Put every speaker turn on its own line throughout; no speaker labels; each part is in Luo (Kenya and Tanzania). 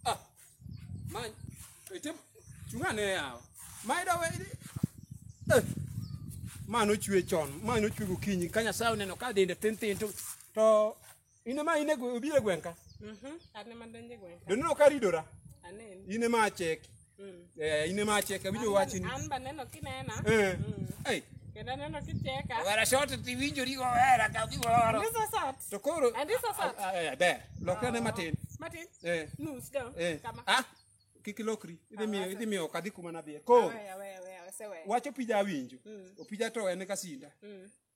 Ah, ma ete chung'ane yawa ma ida we eh, ma nochwe chon ma nochwe gokinyi ka nyasaye oneno ka dende tin tin to to in ema in e gwe- obiro e gweng' ka Mhm. An ema donjo e gweng' ka. doneno ka ridora Aneno. in ema acheki Eh, ine ma cheke winjo wachni An ba neno kinena. Eh. Ei, Kendo neno kicheka. wera shot ti winjori go wera ka gi woro This is hot. to koro And this is hot. Ah, eh, ber lokra ne matin Martin. eh Nus down. eh Kama. ah kik ilokri idhi miyo idhi miyo kadhi kuma nadhiye koro Wewe wewe wewe sewe. wacho pija awinjo opija to en kasinda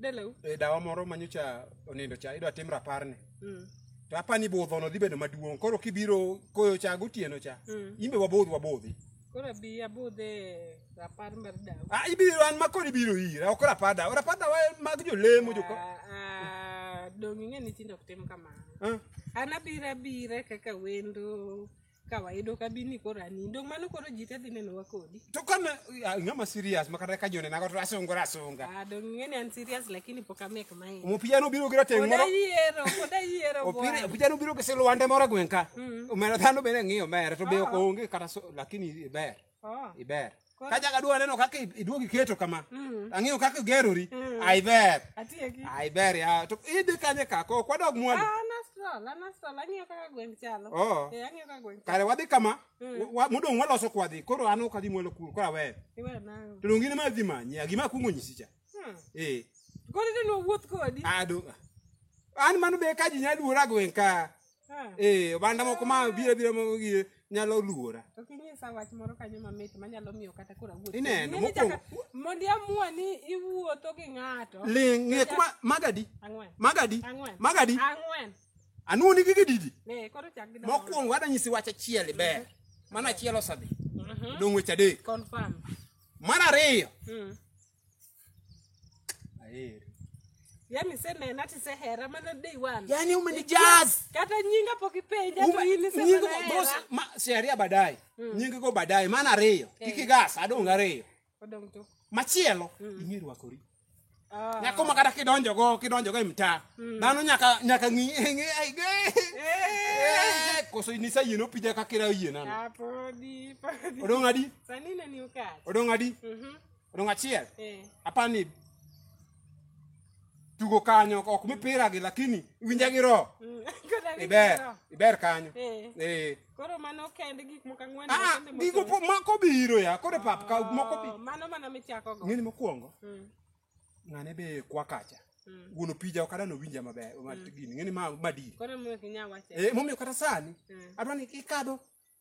Dalau. e dawa moro manyocha onindo cha idwa tim raparne Mm. to apani budhono dhi bedo maduong' koro kibiro koyo cha gotieno cha Mm. imbe wabodh wabodhi Koro abi abudhe rapar mar dawa. ah, ibiro an makod ibiro ira ok rapar dawa rapar dawa en mag jolemo joka Ah, ah, Donge ing'e ni tinde ok tim kamano. Ah, An abira bira kaka wendo ka wayudo ka bini koro anindo mano koro ji te dhi nenowa kodi to kama ah, ng'ama serious makata ka jone nago to asungora asunga Ah, dong ing'e ni an serious lakini pok amek main omopija nobiro gi rateng' pod moro ayiero pod ayiero Opira- bwana. opija nobiro gi silwande moro e gweng' ka omera dhano bende ng'iyo omera to be ok onge kata so- lakini ber Oh. iber Koro- ka jaga dwa neno kaka iduog iketo kama Mm. ang'eyo kaka igerori Mm. ai ber Atieki. ai ber ya to idhi kanye ka ko kwadog mwandu Ah, an astral, an astral. Ang'iyo kaka gweng' chalo. Oo. Eh, ang'iyo kaka gweng' chalo. kare wadhi kama Mm. wa- modong' waloso kwadhi koro an ok adhi mwalo kuro koro aweyo Iwe nang'o? to donge in ma dhi manyi a gima akwongo nyisi cha Hmm. ee Koro idhi ni wawuoth kodi. ado an mano be ka ji nya luora gweng' ka Ah, ee oganda moko ma biro biro ma gi- nyalo luora to kinyisa wach moro kanyo mamit manyalo miyo kata koro awuoth. Ineno, Ing'e ni mokwongo- chaka- Mondi amua ni iwuotho gi ng'ato. ling ng'e kuma magadi Ang'wen. magadi Ang'wen. magadi Ang'wen. anuoni gi gididi Eh, koro chak gi dama. mokwongo ada nyisi wach achiel ber mano achiel osadhi Mhm. dong' weche adek Confirm. mar ariyo Mm. Aheri. yani senena tisehera mana day one yani umenijaz kata nyinga pok ipenja to in isemana hera siaria baadaye nyingi go baadaye maana ariyo kik igas adong ariyo odong to machielo ing'e rwakori Ah. nyako ma kata kidonjo go kidonjo go e mtaa dhano nyaka nyaka ng'i ng'i ai ge Eh, koso inisa yien opija kaka ira yien ano Ah, podi podi odong adi sani neni ukach odong adi Mhm. odong' achiel Eh. aparo ni tugo kanyo ok mipira gi lakini winja gi roho Mm. Koro awinjo iber roho. iber kanyo Eh. eh Koro mano kende gik moko ang'wen ah makende mose- gigo po- moko biro ya kore pap ka moko bi Oh, mano mana michako go. ng'eni mokwongo Mm. ng'ane be kwa kacha Mm. wuon opija ok adano winja maber ma- gini ng'eni ma madiri Koro miyo kinya wache. eh momiyo kata sani Mm. adwa ni ikadho